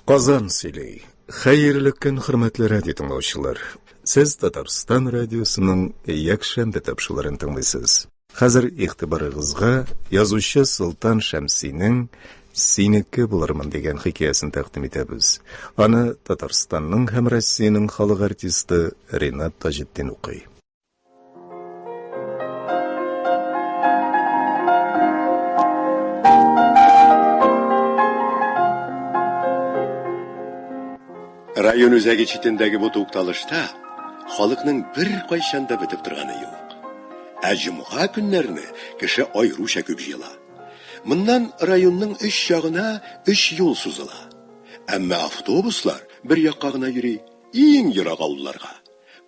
Казан сөйли. Хәерле көн, хөрмәтле радио тыңлаучылар. Сез Татарстан радиосының якшәмбе тапшыларын тыңлыйсыз. Хәзер игътибарыгызга язучы Солтан Шәмсинең Синеке булырмын дигән хикәясен тәкъдим итәбез. Аны Татарстанның һәм Россиянең халык артисты Ринат Таҗетдин укый. Район үзәге читендәге бу тукталышта халыкның бер кайчанда бетеп торганы юк. Ә җомга көннәрне кеше айруча күп җыела. Моннан районның өч ягына өч юл сузыла. Әмма автобуслар бер якка гына йөри, иң ерак авылларга.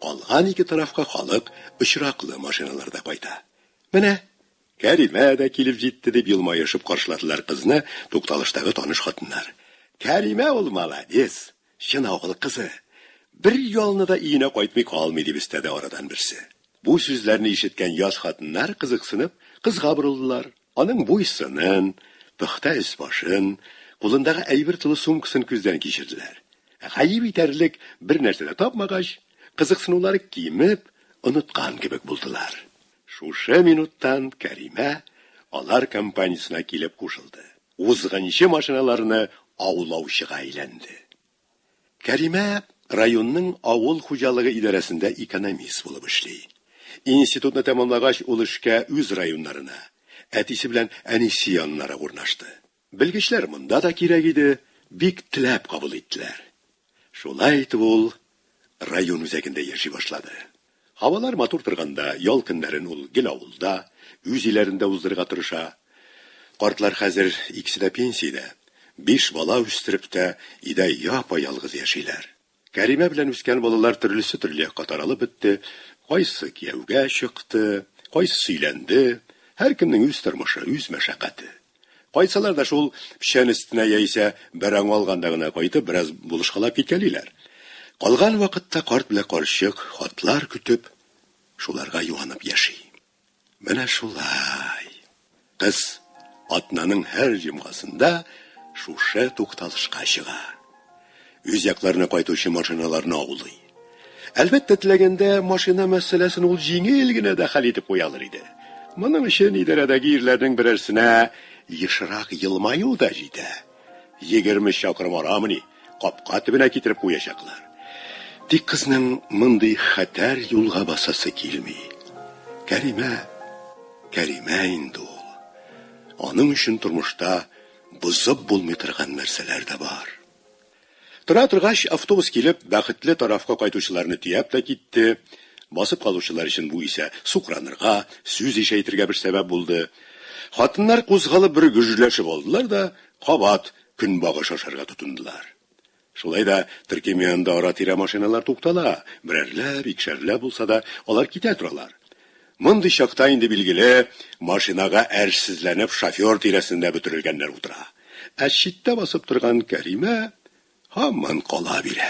Калган ике тарафка халык очраклы машиналарда кайта. Менә Кәримә дә килеп җитте, дип елмаешып каршыладылар кызны тукталыштагы таныш хатыннар. Кәримә ул молодец, чын авыл кызы. Бер ялны да өенә кайтмый калмый, дип өстәде арадан берсе. Бу сүзләрне ишеткән яшь хатыннар кызыксынып, кызга борылдылар. Аның буй-сынын, пөхтә өс-башын, кулындагы әйбер тулы сумкасын күздән кичерделәр. Гаеп итәрлек бер нәрсә дә тапмагач, кызыксынулары кимеп, оныткан кебек булдылар. Шушы минуттан Кәримә алар компаниясенә килеп кушылды. Узгынчы машиналарны аулаучыга әйләнде. Кәримә районның авыл хуҗалыгы идарәсендә экономист булып эшли. Институтны тәмамлагач, ул эшкә үз районнарына, әтисе белән әнисе яннарак урнашты. Белгечләр монда да кирәк иде, бик теләп кабул иттеләр. Шулай итеп ул район үзәгендә яши башлады. Һавалар матур торганда, ял көннәрен ул гел авылда, үз өйләрендә уздырырга тырыша. Картлар хәзер икесе дә пенсиядә, биш бала үстереп тә, өйдә япа-ялгыз яшиләр. Кәримә белән үскән балалар төрлесе-төрле якка таралып бетте, кайсы кияүгә чыкты, кайсысы өйләнде, һәркемнең үз тормышы, үз мәшәкате. Кайтсалар да шул печән өстенә яисә бер аңы алганда гына кайтып, бераз булышкалап киткәлиләр. Калган вакытта карт белән карчык, хатлар көтеп, шуларга юанып яши. Менә шулай. Кыз атнаның һәр җомгасында шушы тукталышка чыга. Үз якларына кайтучы машиналарны аулый. Әлбәттә, теләгәндә машина мәсьәләсен ул җиңел генә дә хәл итеп куя алыр иде. Моның өчен идарәдәге ирләрнең берәрсенә ешрак елмаю да җитә. Егерме чакрым арамыни, капка төбенә китереп куячаклар. Тик кызның мондый хәтәр юлга басасы килми. Кәримә, Кәримә инде ул. Аның өчен тормышта Бозып булмый торган нәрсәләр дә бар. Тора торгач, автобус килеп, бәхетле тарафка кайтучыларны төяп тә китте. Басып калучылар өчен бу исә сукранырга, сүз ишәйтергә бер сәбәп булды. Хатыннар кузгалып бер гөжләшеп алдылар да, кабат көнбагыш ашарга тотындылар. Шулай да төркем янында ара-тирә машиналар туктала, берәрләп, икешәрләп булса да, алар китә торалар. Мондый чакта инде, билгеле, машинага әрсезләнеп шофер тирәсендә бөтерелгәннәр утыра. Ә читтә басып торган Кәримә һаман кала бирә.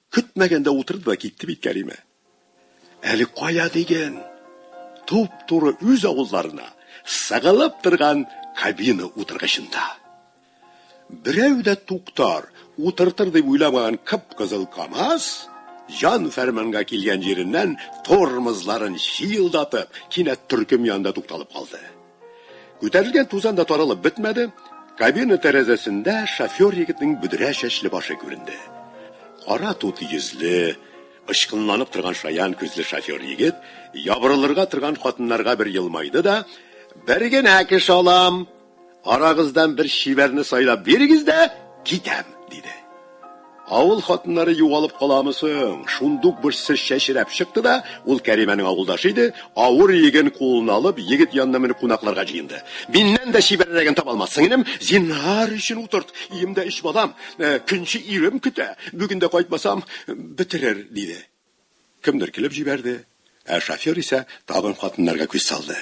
Көтмәгәндә утырды да китте бит Кәримә. Әле кая диген! Туп-туры үз авылларына сыгылып торган кабина утыргычында. Берәү дә туктар, утыртыр дип уйламаган кып-кызыл КАМАЗ, җан-фәрманга килгән җиреннән тормозларын чыелдатып, кинәт төркем янында тукталып калды. Күтәрелгән тузан да таралып бетмәде, кабина тәрәзәсендә шофер егетнең бөдрә чәчле башы күренде. Кара тут йөзле, ычкынланып торган шаян күзле шофер егет ябырылырга торган хатыннарга бер елмайды да, бер генә кеше алам, арагыздан бер чибәрне сайлап бирегез дә, китәм, диде. Авыл хатыннары югалып каламы соң? Шундук бер сер чәчрәп чыкты да, ул Кәримәнең авылдашы иде, авыр иеген кулына алып, егет янына менеп кунакларга җыенды. Миннән дә чибәррәген таба алмас, сеңелем, зинһар өчен утырт, өемдә өч балам, көнче ирем көтә, бүген дә кайтмасам, бетерер, диде. Кемдер көлеп җибәрде, ә шофер исә тагын хатыннарга күз салды.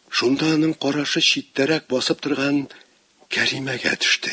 Шунда аның карашы читтәрәк басып торган Кәримәгә төште.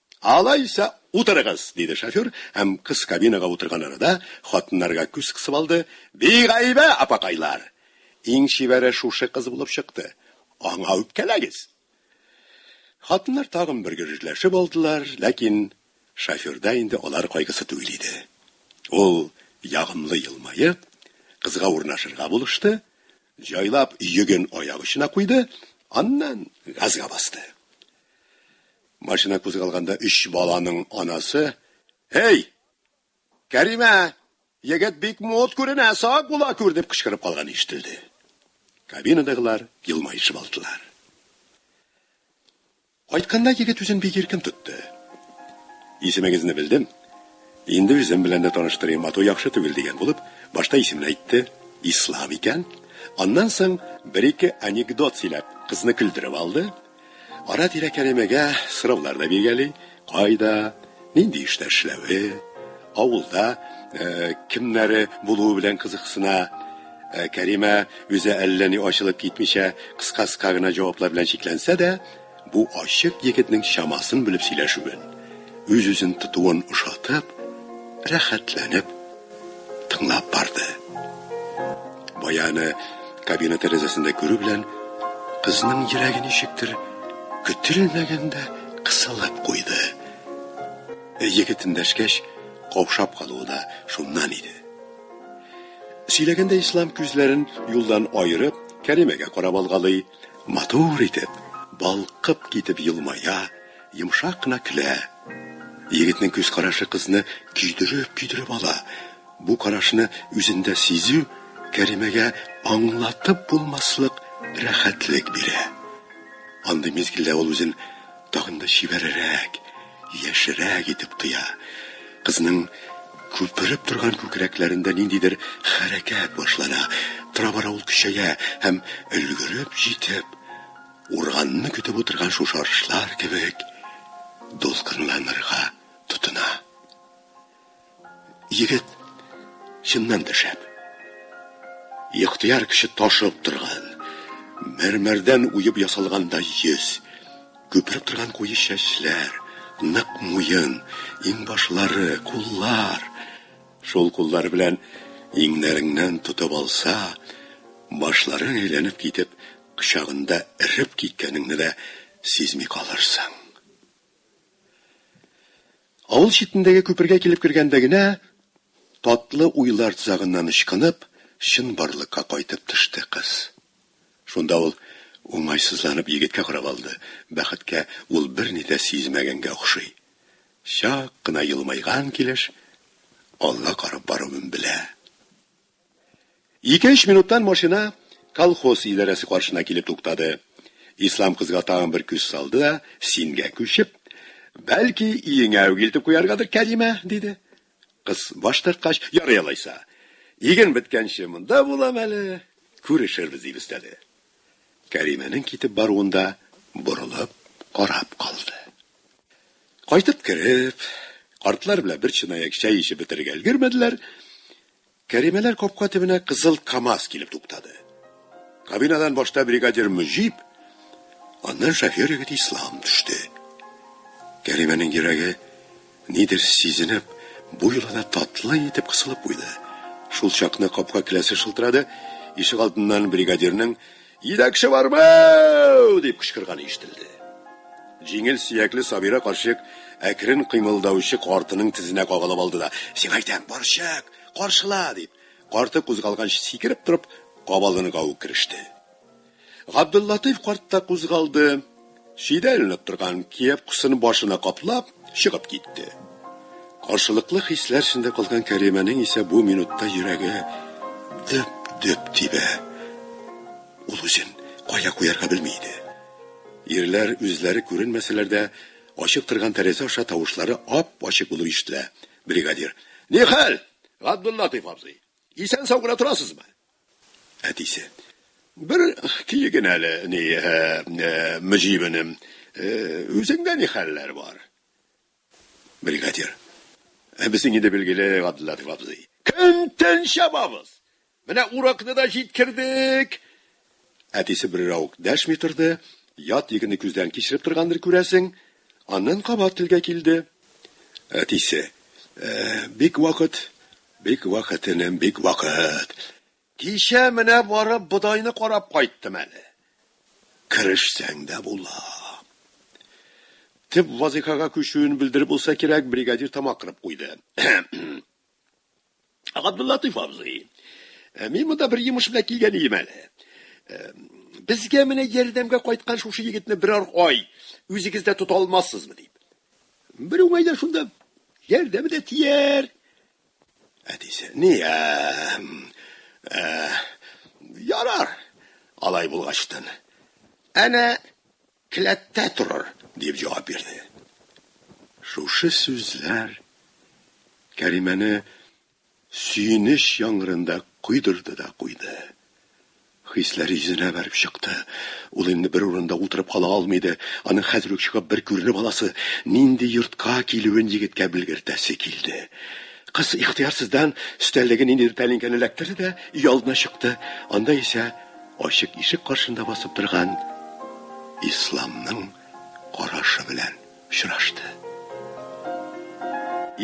Алайса, утырыгыз, диде шофер һәм кыз кабинага утырган арада, хатыннарга күз кысып алды, Бигайбә, апакайлар! Иң чибәре шушы кыз булып чыкты. Аңа үпкәләгез! Хатыннар тагын бер гөжжләшеп алдылар, ләкин шоферда инде алар кайгысы түгел иде. Ул, ягымлы елмаеп, кызга урнашырга булышты, Җайлап йөген аяк очына куйды, аннан газга басты. Машина кузгалганда өч баланың анасы, Эй! Кәримә! Егет бик мод күренә, сак була күр, дип кычкырып калган ишетелде. Кабинадагылар елмаешып алдылар. Кайтканда егет үзен бик иркен тотты. Исемегезне белдем. Инде үзем белән дә таныштырыйм, ату яхшы түгел, дигән булып, башта исемен әйтте, Ислам икән. Аннан соң бер-ике анекдот сөйләп, кызны көлдереп алды. Ара-тирә кәримәгә сораулар да биргәли, Кайда? Нинди эштә эшләве, авылда кемнәре булуы белән кызыксына. Кәримә үзе әллә ни ачылып китмичә, кыска-кыска гына җаваплар белән чикләнсә дә, бу ачык егетнең чамасын белеп сөйләшүен, үз-үзен тотуын ошатып, рәхәтләнеп тыңлап барды. Баяны кабина тәрәзәсендә күрү белән, кызның йөрәге ничектер көтелмәгәндә кысылып куйды. Егет эндәшкәч, каушап калуы да шуннан иде. Сөйләгәндә Ислам күзләрен юлдан аерып, Кәримәгә карап алгалый, матур итеп, балкып китеп елмая, йомшак кына көлә. Егетнең күз карашы кызны көйдереп-көйдереп ала. Бу карашны үзендә сизү Кәримәгә аңлатып булмаслык рәхәтлек бирә. Андый мизгелдә ул үзен Тагын да чибәррәк, яшьрәк итеп кыя. Кызның күпереп торган күкрәкләрендә ниндидер хәрәкәт башлана. Тора-бара ул көчәя һәм өлгереп җитеп, урганны көтеп утырган шушарышлар кебек дулкынланырга тотына. Егет чыннан да шәп. Ихтыяр кеше ташып торган, мәрмәрдән уеп ясалганда йөз, күпереп торган куе чәчләр, нык муен, иңбашлары, куллар. Шул куллар белән иңнәреңнән тотып алса, башлары әйләнеп китеп, кочагында эреп киткәнеңне дә сизми калырсың. Авыл читендәге күпергә килеп кергәндә генә, татлы уйлар тозагыннан ычкынып, чынбарлыкка кайтып төште кыз. Шунда ул, уңайсызланып, егеткә карап алды, бәхеткә, ул берни дә сизмәгәнгә охшый. Чак кына елмайган килеш алга карап баруын белә. Ике-өч минуттан машина колхоз идарәсе каршына килеп туктады. Ислам кызга тагын бер күз салды да, сингә күчеп, Бәлки, өеңә үк илтеп куяргадыр, Кәримә, диде. Кыз баш тарткач, ярый алайса. Иген беткәнче монда булам әле, күрешербез, дип өстәде. Кәримәнең китеп баруында борылып карап калды. Кайтып кереп, картлар белән бер чынаяк чәй эчеп бетерергә өлгермәделәр, Кәримәләр капка төбенә кызыл КАМАЗ килеп туктады. Кабинадан башта бригадир Мөҗип, аннан шофер егет Ислам төште. Кәримәнең йөрәге, нидер сизенеп, бу юлы да татлы итеп кысылып куйды. Шул чакны капка келәсе шылтырады, ишек алдыннан бригадирның Җитәкче бармы! дип кычкырганы ишетелде. Җиңел сөякле Сабира карчык әкрен кыймылдаучы картының тезенә кагылып алды да, Сиңа әйтәм, борчак, каршыла! дип, карты кузгалганчы сикереп торып, кабаланырга ук кереште. Габделлатыйф карт та кузгалды. Чидәләнеп торган кепкасын башына каплап, чыгып китте. Каршылыклы хисләр эчендә калган Кәримәнең исә бу минутта йөрәге дөп-дөп тибә. Ул үзен кая куярга белми иде. Ирләр үзләре күренмәсәләр дә, ачык торган тәрәзә аша тавышлары ап-ачык булып ишетелә. Бригадир. Нихәл, Габдуллатыйф абзый? Исән-сау гына торасызмы? Әтисе. Бер кил генә әле, ни, Мөҗибенем, үзеңдә ни хәлләр бар? Бригадир. Ә безнең инде билгеле, Габделлатыйф абзый. Көн-төн чабабыз! Менә уракны да җиткердек! Әтисе берәү дәшми торды, ят егетне күздән кичереп торгандыр, күрәсең. Аннан кабат телгә килде. Әтисе. Ә, бик вакыт. Бик вакыт, энем, бик вакыт. Кичә менә барып бодайны карап кайттым әле. Керешсәң дә була. Төп вазыйфага күчүен белдереп булса кирәк, бригадир тамак кырып куйды. Габдуллатыйф абзый, э, мин монда бер йомыш белән килгән идем әле. Э, безгә менә ярдәмгә кайткан шушы егетне берәр ай үзегез дә тота алмассызмы дип. Бер уңайда шунда ярдәме дә тияр. Әтисе, ни, ә, э, ярар, алай булгачтын. Әнә Келәттә торыр, дип җавап бирде. Шушы сүзләр Кәримәне сөенеч яңгырында койдырды да куйды. Хисләре йөзенә бәреп чыкты. Ул инде бер урында утырып кала алмый иде. Аның хәзер үк чыгып бер күренеп аласы, нинди йортка килүен егеткә белгертәсе килде. Кыз ихтыярсыздан өстәлдәге ниндидер тәлинкәне эләктерде дә өйалдына чыкты. Анда исә Ачык ишек каршында басып торган Исламның карашы белән очрашты.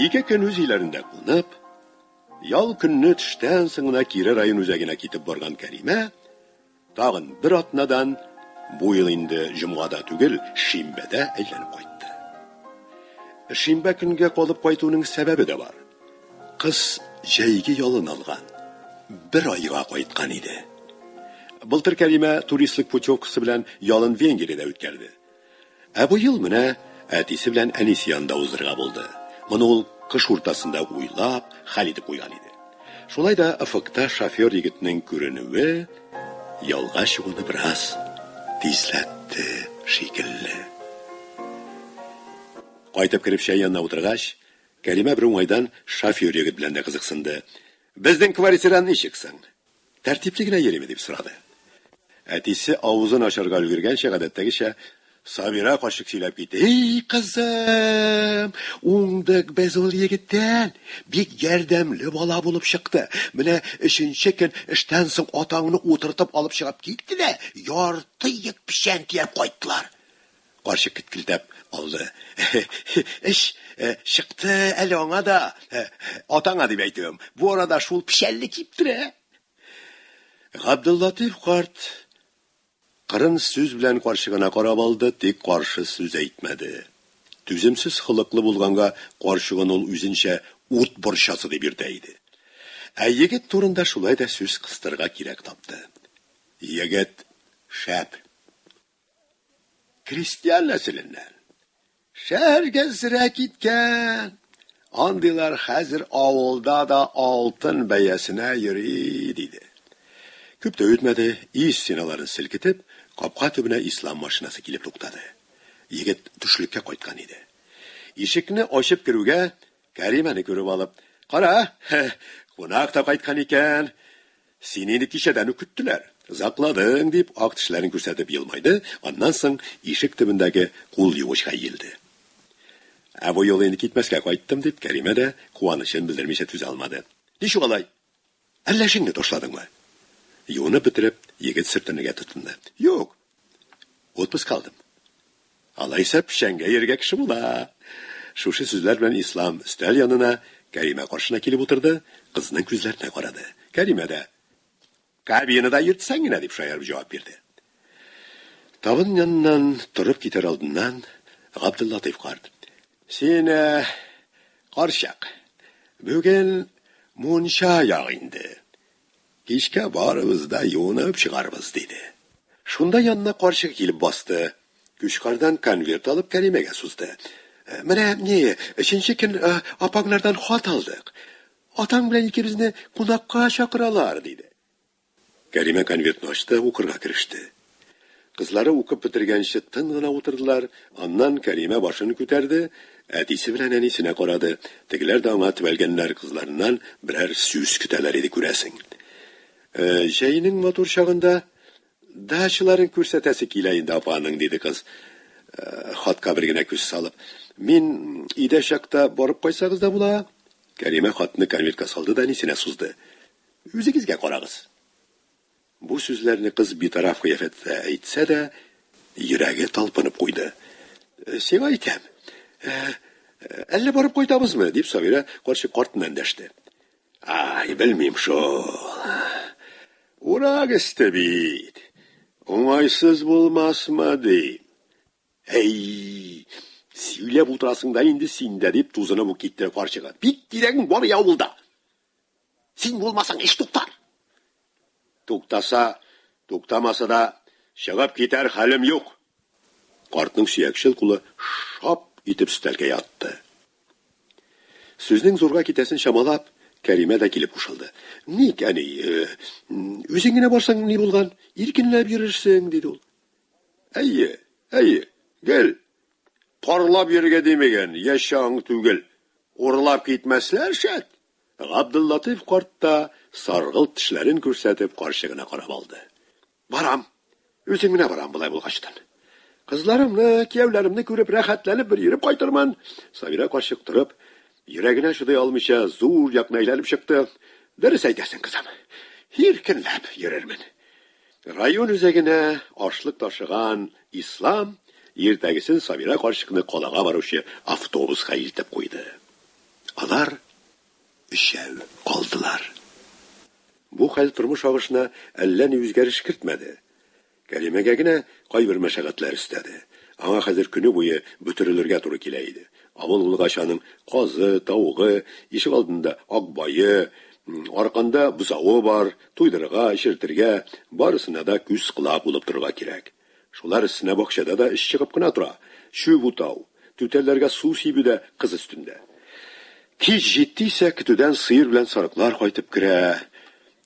Ике көн үз өйләрендә кунып, ял көнне төштән соң гына кире район үзәгенә китеп барган Кәримә тагын бер атнадан бу ел инде җомгада түгел, шимбәдә әйләнеп кайтты. Шимбә көнгә калып кайтуның сәбәбе дә бар. Кыз җәйге ялын алган, бер айга кайткан иде. Былтыр Кәримә туристлык путевкасы белән ялын Венгриядә үткәрде. Ә бу ел менә әтисе белән әнисе янында узырга булды. Моны ул кыш уртасында уйлап, хәл итеп куйган иде. Шулай да офыкта шофер егетнең күренүе ялга чыгуны бераз тизләтте шикелле. Кайтып кереп чәй янына утыргач, Кәримә бер уңайдан шофер егет белән дә кызыксынды. Безнең квартира ничек соң? Тәртипле генә йөриме? дип сорады. Әтисе авызын ачарга өлгергәнче, гадәттәгечә, Сабира карчык сөйләп китте. Һи, кызым! Уңдык без ул егеттән! Бик ярдәмле бала булып чыкты. Менә өченче көн эштән соң атаңны утыртып алып чыгып китте дә, ярты ек печән төяп кайттылар. Карчык кеткелдәп алды. Эш чыкты әле аңа да, атаңа дип әйтүем. Бу арада шул печәлне киптерә. Габдуллатыйф карт кырын сүз белән карчыгына карап алды, тик каршы сүз әйтмәде. Түземсез холыклы булганга, карчыгын ул үзенчә ут борчасы дип йөртә иде. Ә егет турында шулай да сүз кыстырырга кирәк тапты. Егет шәп. Крестьян нәселеннән. Шәһәргә зрә киткән. Андыйлар хәзер авылда да алтын бәясенә йөри, диде. Күп тә үтмәде, ис стеналарын селкетеп, капка төбенә ислам машинасы килеп туктады. Егет төшлеккә кайткан иде. Ишекне ачып керүгә, Кәримәне күреп алып, Кара, кунак та кайткан икән. Сине инде кичәдән үк көттеләр. Закладың, дип, ак тешләрен күрсәтеп елмайды, аннан соң ишек төбендәге кул юучка иелде. Ә бу юлы инде китмәскә кайттым, дип, Кәримә дә куанычын белдермичә түзә алмады. Ничек алай? Әллә эшеңне ташладыңмы? Юынып бетереп, егет сөртенергә тотынды. Юк, Отпуск алдым. Алайса, печәнгә йөрергә кеше була. Шушы сүзләр белән Ислам өстәл янына, Кәримә каршына килеп утырды, кызның күзләренә карады. Кәримә дә, Кабинада йөртсәң генә, дип шаярып җавап бирде. Табын яныннан торып китәр алдыннан Габдуллатыйф карт, Син, карчык, бүген мунча ягы инде. Кичкә барыбыз да юынып чыгарбыз, диде. Шунда янына карчык килеп басты. Кючкардан конверт алып Кәримәгә сузды. Менә, ни, өченче көн апаңнардан хат алдык. Атаң белән икебезне кунакка чакыралар, диде. Кәримә конвертны ачты, укырга кереште. Кызлары укып бетергәнче тын гына утырдылар, аннан Кәримә башын күтәрде, әтисе белән әнисенә карады, тегеләр дә аңа төбәлгәннәр, кызларыннан берәр сүз көтәләр иде, күрәсең. Э, җәйнең матур чагында дачаларын күрсәтәсе килә инде апаның, диде кыз, э, хатка бер генә күз салып. Мин өйдә чакта барып кайсагыз да була? Кәримә хатны конвертка салды да әнисенә сузды. Үзегезгә карагыз. Бу сүзләрне кыз битараф кыяфәттә әйтсә дә, йөрәге талпынып куйды. Сиңа әйтәм. Әллә барып кайтабызмы? дип Сабира карчык картына эндәште. Ай, белмим шул. Урак өсте бит. Уңайсыз булмасмы, ди. Әй, сөйләп утырасың да инде син дә, дип тузынып ук китте карчыгы. Бик кирәгең бар и авылда. Син булмасаң, эш туктар. Туктаса, туктамаса да, чыгып китәр хәлем юк. Картның сөякчел кулы шап итеп өстәлгә ятты. Сүзнең зурга китәсен чамалап, Кәримә дә килеп кушылды. Ник, әни, э, үзең генә барсаң ни булган, иркенләп йөрерсең, диде ул. Әйе, әйе, гел Парлап йөрергә димеген, яше аң түгел. Урлап китмәсләр шәт! Габделлатыйф карт та, саргылт тешләрен күрсәтеп, карчыгына карап алды. Барам. Үзем генә барам, болай булгач тын. Кызларымны, кияүләремне күреп, рәхәтләнеп бер йөреп кайтырмын. Сабира карчык торып, йөрәгенә чыдый алмыйча, зур якны әйләнеп чыкты. Дөрес әйтәсең, кызым. Иркенләп йөрермен. Район үзәгенә ашлык ташыган Ислам иртәгесен Сабира карчыкны калага баручы автобуска илтеп куйды. Алар өчәү калдылар. Бу хәл тормыш агышына әллә ни үзгәреш кертмәде. Кәримәгә генә кайбер мәшәкатьләр өстәде. Аңа хәзер көне буе бөтерелергә туры килә иде. Авыл булгач аның казы, тавыгы, ишегалдында акбае, арканда бозавы бар, туйдырырга, эчертергә, барысына да күз-колак булып торырга кирәк. Шулар өстенә бакчада да эш чыгып кына тора, чүп утау, түтәлләргә су сибү дә кыз өстендә. Кич җитте исә, көтүдән сыер белән сарыклар кайтып керә.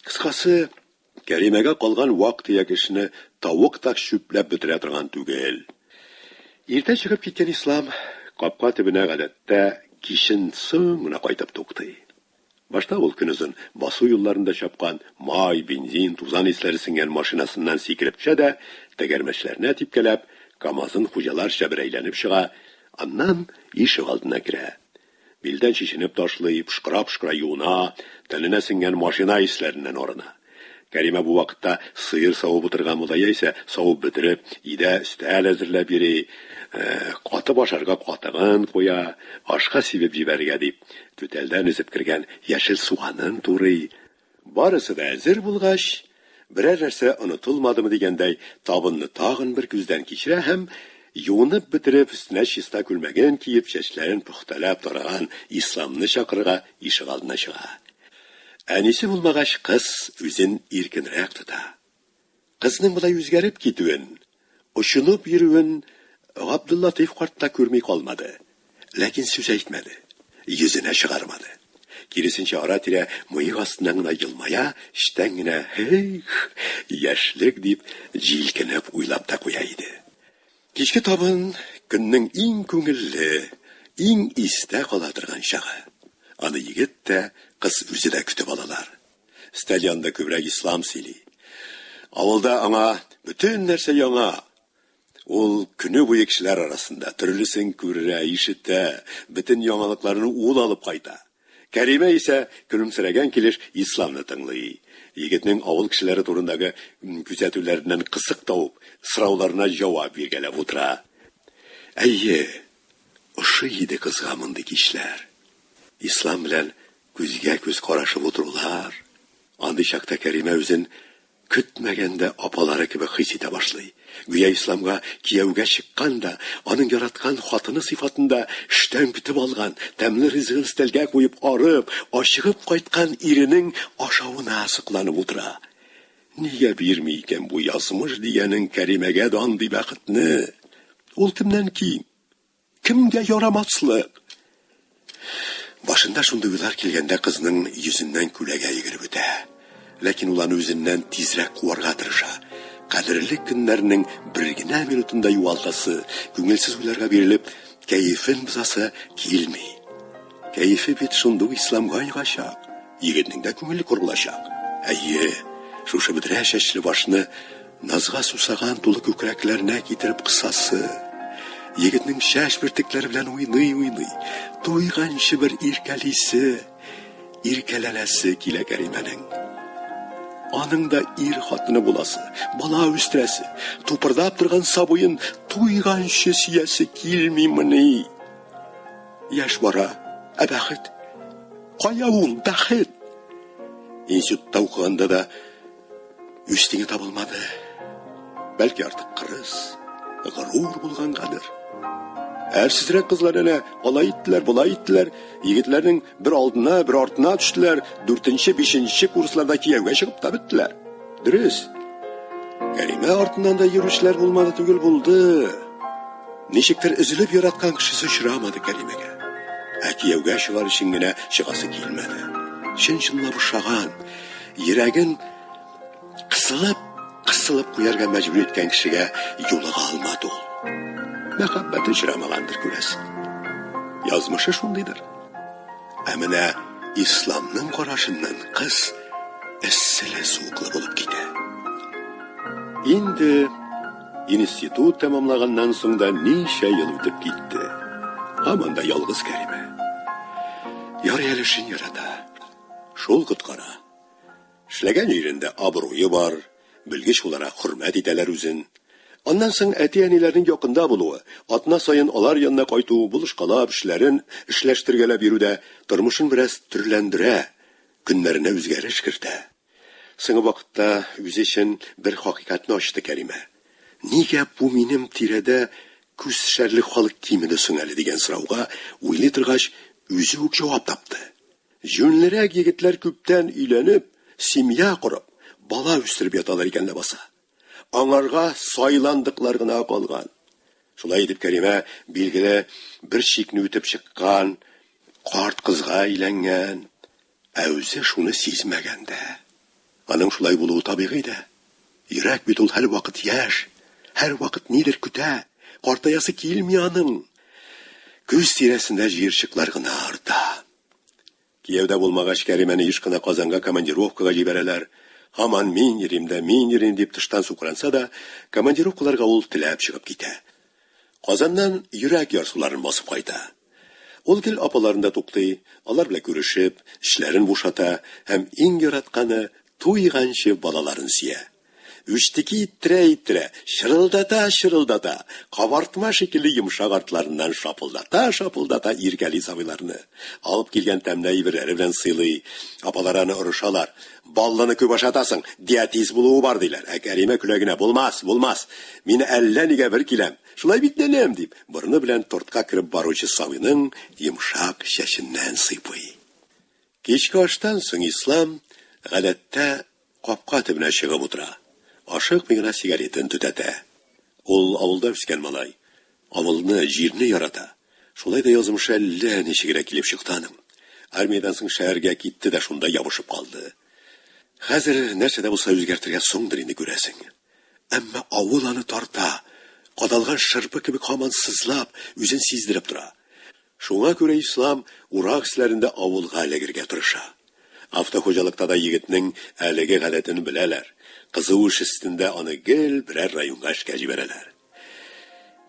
Кыскасы. Кәримәгә калган вак-төяк эшне тавык та чүпләп бетерә торган түгел. Иртә чыгып киткән Ислам капка төбенә гадәттә кичен соң гына кайтып туктый. Башта ул көнозын басу юлларында чапкан май, бензин, тузан исләре сеңгән машинасыннан сикереп төшә дә, тәгәрмәчләренә типкәләп, КАМАЗын хуҗаларча бер әйләнеп чыга, аннан ишегалдына керә. Билдән чишенеп ташлый, пшкыра-пшкыра юына, тәненә сеңгән машина исләреннән арына. Кәримә бу вакытта сыер савып утырган була яисә, савып бетереп, өйдә өстәл әзерләп йөри, катып ашарга катыгын куя, ашка сибеп җибәрергә дип, түтәлдән өзеп кергән яшел суганын турый, Барысы да әзер булгач, берәр нәрсә онытылмадымы дигәндәй, табынны тагын бер күздән кичерә һәм, юынып бетереп, өстенә чиста күлмәген киеп, чәчләрен пөхтәләп тараган Исламны чакырырга ишегалдына чыга. Әнисе булмагач, кыз үзен иркенрәк тота. Кызның болай үзгәреп китүен, очынып йөрүен Габдуллатыйф карт та күрми калмады. Ләкин сүз әйтмәде. Йөзенә чыгармады. Киресенчә, ара-тирә мыек астыннан гына елмая, эчтән генә, Һи-их, яшьлек, дип, җилкенеп уйлап та куя иде. Кичке табын, көннең иң күңелле, иң истә кала торган чагы. Аны егет тә, кыз үзе дә көтеп алалар. Стадионда күбрәк ислам сөйли. Авылда аңа бөтен нәрсә яңа. Ул көне буе кешеләр арасында төрлесен күрә, ишетә, бөтен яңалыкларны ул алып кайта. Кәримә исә көлемсерәгән килеш исламны тыңлый. Егетнең авыл кешеләре турындагы күзәтүләреннән кысык табып, сорауларына җавап биргәләп утыра. Әйе, ошый иде кызга мондый кичләр. Ислам белән Күзгә-күз карашып утырулар, андый чакта Кәримә үзен көтмәгәндә апалары кебек хис итә башлый. Гүя Исламга кияүгә чыккан да, аның яраткан хатыны сыйфатында эштән көтеп алган, тәмле ризыгын өстәлгә куеп, арып, ачыгып кайткан иренең ашавына сокланып утыра. Нигә бирми икән бу язмыш дигәнең Кәримәгә дә андый бәхетне? Ул кемнән ким? Кемгә ярамаслык? Башында шундый уйлар килгәндә кызның йөзеннән күләгә йөгереп үтә. Ләкин ул аны үзеннән тизрәк куарга тырыша. Кадерле көннәрнең бер генә минутын да югалтасы, күңелсез уйларга бирелеп, кәефен бозасы килми. Кәефе бит шундый ук исламга ягачак. Егетнең дә күңеле курылачак. Әйе, шушы бөдрә чәчле башны Назга сусаган тулы күкрәкләренә китереп кысасы, егетнең шәш бөртекләре белән уйный-уйный, туйганчы бер иркәлисе, иркәләнәсе килә Кәримәнең. Аның да ир хатыны буласы, бала үстерәсе, тупырдап торган сабыен туйганчы сөясе килмимени? Яшь бара, ә бәхет? Кая ул бәхет? Институтта укыганда да Үз тиңе табылмады. Бәлки артык кырыс, горур булгангадыр. Әрсезрәк кызлар әнә алай иттеләр, болай иттеләр. Егетләрнең бер алдына, бер артына төштеләр. Дүртенче, бишенче курсларда кияүгә чыгып та беттеләр. Дөрес. Кәримә артыннан да йөрүчеләр булмады түгел булды. Ничектер өзелеп яраткан кешесе очрамады Кәримәгә. Ә кияүгә чыгар өчен генә чыгасы килмәде. Чын-чынлап ошаган, Йөрәген кысылып, кысылып куярга мәҗбүр иткән кешегә юлыга алмады ул. Мәхәббәт очрамагандыр, күрәсең. Язмышы шундыйдыр. Ә менә исламның карашыннан кыз эсселе суыклы булып китә. Инде институт тәмамлаганнан соң да ничә ел үтеп китте. Һаман да ялгыз Кәримә. Ярый әле шин ярата. Шул коткара. Эшләгән җирендә абруе бар, белгеч буларак хөрмәт итәләр үзен. Аннан соң әти-әниләрнең якында булуы, атна саен алар янына кайту, булышкалап, эшләрен эшләштергәләп йөрү дә тормышын бераз төрләндерә, көннәренә үзгәреш кертә. Соңгы вакытта үзе өчен бер хакыйкатьне ачты Кәримә. Нигә бу минем тирәдә күз төшәрлек халык кимеде соң әле дигән сорауга уйлый торгач, үзе үк җавап тапты. Җүнлерәк егетләр күптән өйләнеп, семья корып, бала үстереп яталар икән ләбаса. Аңарга сайландыклар гына калган. Шулай итеп Кәримә, билгеле, бер чикне үтеп чыккан карт кызга өйләнгән, ә үзе шуны сизмәгән дә. Аның шулай булуы табигый дә. Йөрәк бит ул һәрвакыт яшь, һәрвакыт нидер көтә, картаясы килми аның. Көз тирәсендә җыерчыклар гына арта. Кияүдә булмагач, Кәримәне еш кына Казанга командировкага җибәрәләр. Һаман мин йөрим дә, мин йөрим, дип тыштан сукранса да, командировкаларга ул теләп чыгып китә. Казаннан йөрәк ярсуларын басып кайта. Ул гел апаларында туктый, алар белән күрешеп, эчләрен бушата һәм иң яратканы, туйганчы балаларын сөя. Үчтеки иттерә-иттерә, чырылдата-чырылдата, кабартма шикелле йомшак артларыннан шапылдата-шапылдата иркәли сабыйларны. Алып килгән тәмле әйберләре белән сыйлый. Апалары аны орышалар, Баллыны күп ашатасың, диатиз булуы бар, диләр. Ә Кәримә көлә генә, Булмас, булмас! Мин әллә нигә бер киләм. Шулай бит, нәнәм? дип, борыны белән тортка кереп баручы Сабыйның йомшак чәченнән сыйпый. Кичке аштан соң Ислам, гадәттә, капка төбенә чыгып утыра. Ашыкмый гына сигаретын төтәтә. Ул авылда үскән малай. Авылны, җирне ярата. Шулай да язмышы әллә ничегрәк килеп чыкты аның. Армиядән соң шәһәргә китте дә шунда ябышып калды. Хәзер нәрсә дә булса үзгәртергә соңдыр инде, күрәсең. Әмма авыл аны тарта, кадалган шырпы кебек һаман сызлап, үзен сиздереп тора. Шуңа күрә Ислам урак эшләрендә авылга эләгергә тырыша. Автохуҗалыкта да егетнең әлеге гадәтен беләләр, кызу эш өстендә аны гел берәр районга эшкә җибәрәләр.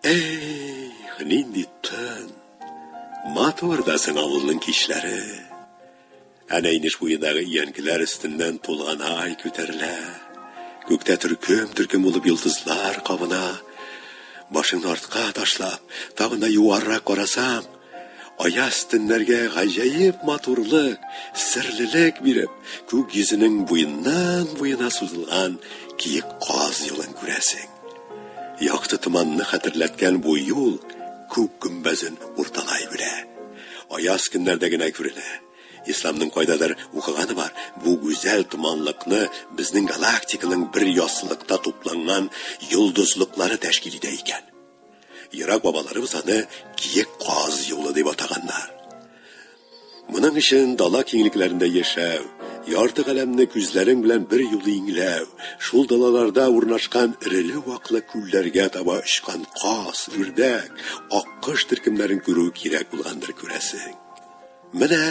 Эх, нинди төн! Матур да соң авылның кичләре. Әнә инеш буендагы иянкеләр өстеннән тулган ай күтәрелә. Күктә төркем-төркем булып йолдызлар кабына. Башыңны артка ташлап, тагын да югарырак карасаң, Аяз төннәргә гаҗәеп матурлык, серлелек биреп, күк йөзенең буеннан-буена сузылган киек каз юлын күрәсең. Якты томанны хәтерләткән бу юл күк гөмбәзен урталай белә. Аяз көннәрдә генә күренә. Исламның кайдадыр укыганы бар, бу гүзәл томанлыкны безнең галактиканың бер яссылыкта тупланган йолдызлыклары тәшкил итә икән. Ерак бабаларыбыз аны киек каз юлы дип атаганнар. Моның өчен дала киңлекләрендә яшәү, ярты галәмне күзләрең белән бер юлы иңләү, шул далаларда урнашкан эреле-ваклы күлләргә таба очкан каз, үрдәк, аккош төркемнәрен күрү кирәк булгандыр күрәсең. Менә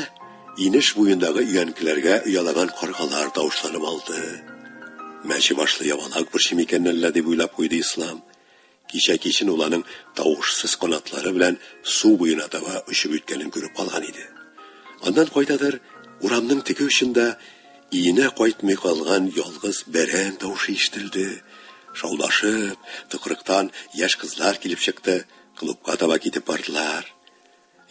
инеш буендагы өянкеләргә оялаган каргалар тавышланып алды. Мәче башлы ябалак борчы микәннән лә дип уйлап куйды Ислам. Кичә кичен ул аның тавышсыз канатлары белән су буена таба очып үткәнен күреп алган иде. Аннан кайдадыр урамның теге очында өенә кайтмый калган ялгыз бәрән тавышы ишетелде. Шаулашып, тыкрыктан яшь кызлар килеп чыкты, клубка таба китеп бардылар.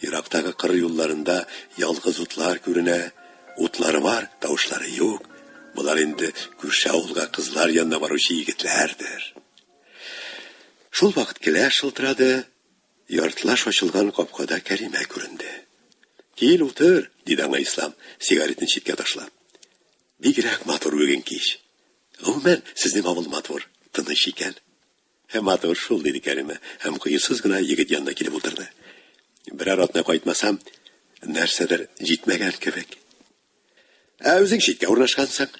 Ерактагы кыр юлларында ялгыз утлар күренә. Утлары бар, тавышлары юк. Болар инде күрше авылга кызлар янына баручы егетләрдер. Шул вакыт келә шылтырады, яртылаш ачылган капкада Кәримә күренде. Кил, утыр, диде аңа Ислам, сигаретын читкә ташлап. Бигрәк матур бүген кич. Гомумән, сезнең авыл матур, тыныч икән. Һәм матур шул, диде Кәримә, һәм кыюсыз гына егет янына килеп утырды. Берәр атна кайтмасам, нәрсәдер җитмәгән кебек. Ә үзең читкә урнашкансың.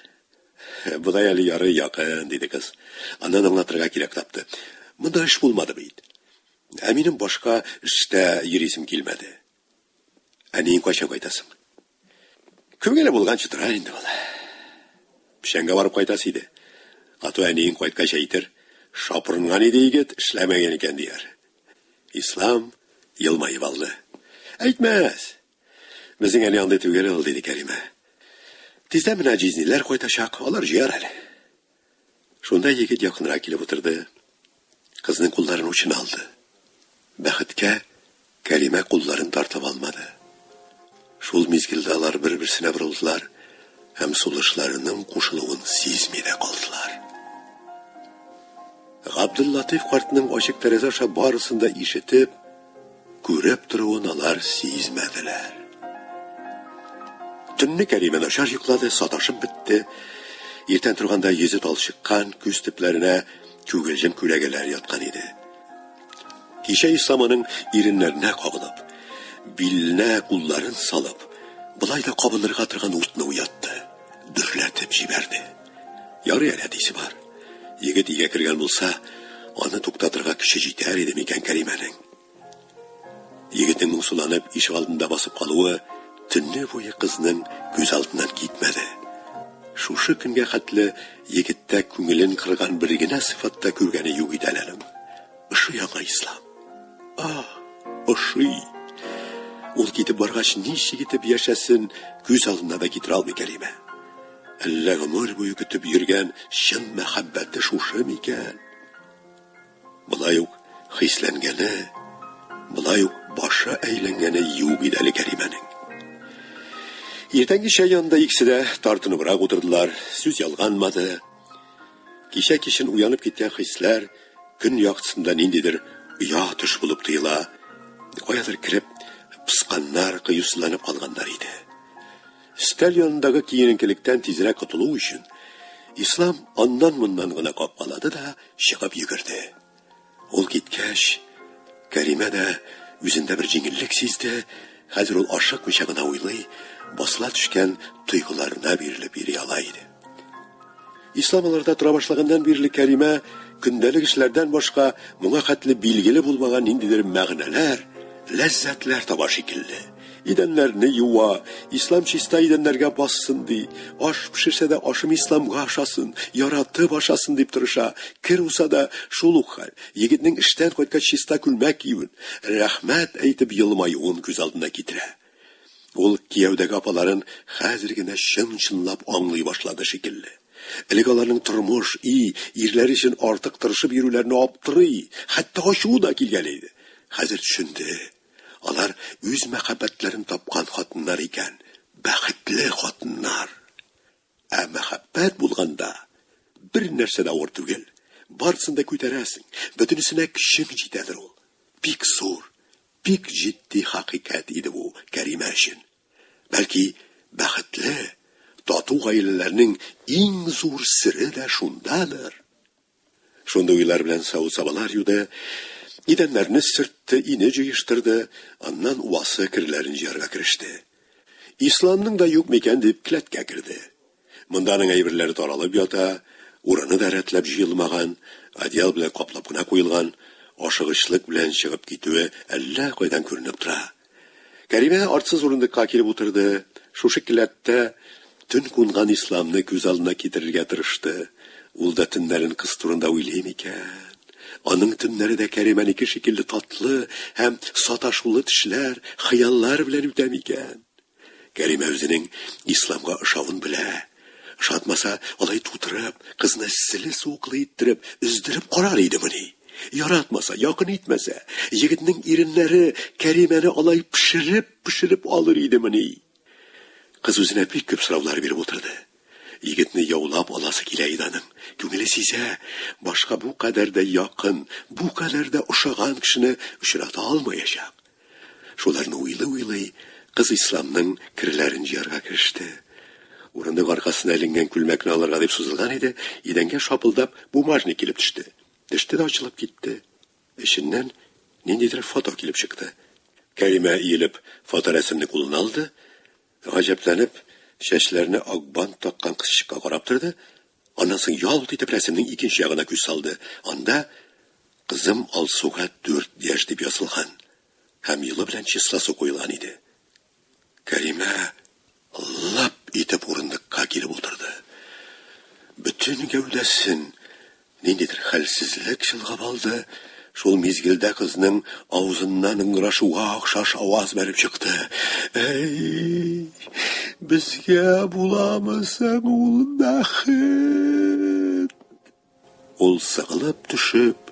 Бодай әле ярый якын, диде кыз. Аннан аңлатырга кирәк тапты. Монда эш булмады бит. Ә минем башка эштә йөрисем килмәде. Ә нин кайчан кайтасың? Күңеле булганчы тора инде ул. Печәнгә барып кайтасы иде. Ату әниең кайткач әйтер, шапырынган иде егет, эшләмәгән икән дияр. Ислам елмаеп алды. Әйтмәс. Безнең әни андый түгел ул, диде Кәримә. Тиздән менә җизниләр кайтачак, алар җыяр әле. Шунда егет якынрак килеп утырды. Кызның кулларын учына алды. Бәхеткә Кәримә кулларын тартып алмады. Шул мизгелдә алар бер-берсенә борылдылар һәм сулышларының кушылуын сизми дә калдылар. Габдуллатыйф картның ачык тәрәзә аша барысын да ишетеп, Күреп торуын алар сизмәделәр. Төнне Кәримә начар йоклады, саташып бетте. Иртән торганда йөзе талчыккан, күз төпләренә күгелҗем күләгәләр яткан иде. Кичә Ислам аның иреннәренә кабынып, биленә кулларын салып, былай да кабынырга торган утны уятты, дөрләтеп җибәрде. Ярый әле әтисе бар. Егет игә кергән булса, аны туктатырга көче җитәр иде микән Кәримәнең. Егетнең моңсуланып ишек алдында басып калуы төнне буе кызның күз алдыннан китмәде. Шушы көнгә хәтле егеттә күңелен кырган бер генә сыйфатта күргәне юк иде әле аның. Ошый яңа ислам. А, ошый. Ул китеп баргач, ничек итеп яшәсен, күз алдына да китерә алмый Кәримә. Әллә гомер буе көтеп йөргән чын мәхәббәте шушы микән? Болай ук хисләнгәне, болай ук башы әйләнгәне юк иде әле Кәримәнең. Иртәнге чәй янында икесе дә тартыныбрак утырдылар, сүз ялганмады. Кичә кичен уянып киткән хисләр көн яктысында ниндидер оя төш булып тоела. Каядыр кереп, пысканнар, кыюсызланып калганнар иде. Өстәл янындагы киененкелектән тизрәк котылу өчен, Ислам аннан-моннан гына капкалады да чыгып йөгерде. Ул киткәч, Кәримә дә үзендә бер җиңеллек сизде, хәзер ул ашыкмыйча гына уйлый, басыла төшкән тойгыларына бирелеп йөри ала иде. Ислам аларда тора башлаганнан бирле Кәримә көндәлек эшләрдән башка моңа хәтле билгеле булмаган ниндидер мәгънәләр, ләззәтләр таба шикелле. Идәннәрне юа, ислам чиста идәннәргә бассын ди, аш пешерсә дә ашым исламга ашасын, яратып ашасын дип тырыша, кер уса да шул ук хәл, егетнең эштән кайткач чиста күлмәк киюен, рәхмәт әйтеп елмаюын күз алдына китерә. Ул кияүдәге апаларын хәзер генә чын-чынлап аңлый башлады шикелле. Элек аларның тормыш, и, ирләре өчен артык тырышып йөрүләренә аптырый, хәтта ачуы да килгәли иде. Хәзер төшенде. Алар үз мәхәббәтләрен тапкан хатыннар икән, бәхетле хатыннар. Ә мәхәббәт булганда, бернәрсә дә авыр түгел. Барысын да күтәрәсең, бөтенесенә көчең җитәдер ул. Бик зур, бик җитди хакыйкать иде бу Кәримә өчен. Бәлки, бәхетле, тату гаиләләрнең иң зур сере дә шундадыр? Шундый уйлар белән савыт-сабалар юды, идәннәрне сөртте, ине җыештырды, аннан уасы керләрен җыярга кереште. Исламның да юк микән дип кләткә керде. Монданың әйберләре таралып ята, урыны да рәтләп җыелмаган, одеял белән каплап кына куелган, ашыгычлык белән чыгып китүе әллә кайдан күренеп тора. Кәримә артсыз урындыкка килеп утырды, шушы келәттә төн кунган Исламны күз алдына китерергә тырышты. Ул да төннәрен кыз турында уйлый микән? Аның төннәре дә Кәримәнеке шикелле татлы һәм саташулы төшләр, хыяллар белән үтә микән? Кәримә үзенең Исламга ошавын белә, Ошатмаса, алай тутырып, кызны сылы-суыклы иттереп, өздереп карар идемени? Яратмаса, якын итмәсә, егетнең иреннәре Кәримәне алай пешереп-пешереп алыр идемени? Кыз үзенә бик күп сораулар биреп утырды. Егетне яулап аласы килә иде аның. Күңеле сизә, башка бу кадәр дә якын, бу кадәр дә ошаган кешене очрата алмаячак. Шуларны уйлый-уйлый, кыз Исламның керләрен җыярга кереште. Урындык аркасына эленгән күлмәкне алырга дип сузылган иде, идәнгә шапылдап бумажник килеп төште. Төште дә ачылып китте. Эченнән ниндидер фото килеп чыкты. Кәримә иелеп фоторәсемне кулына алды, Гаҗәпләнеп, чәчләренә ак бант таккан кызчыкка карап торды, аннан соң ялт итеп рәсемнең икенче ягына күз салды, анда Кызым Алсуга дүрт яшь дип язылган һәм елы белән числосы куелган иде. Кәримә лап итеп урындыкка килеп утырды. Бөтен гәүдәсен Ниндидер хәлсезлек чолгап алды, шул мизгелдә кызның авызыннан ыңгырашуга охшаш аваз бәреп чыкты. Әй, безгә буламы соң ул бәхет? Ул сыгылып төшеп,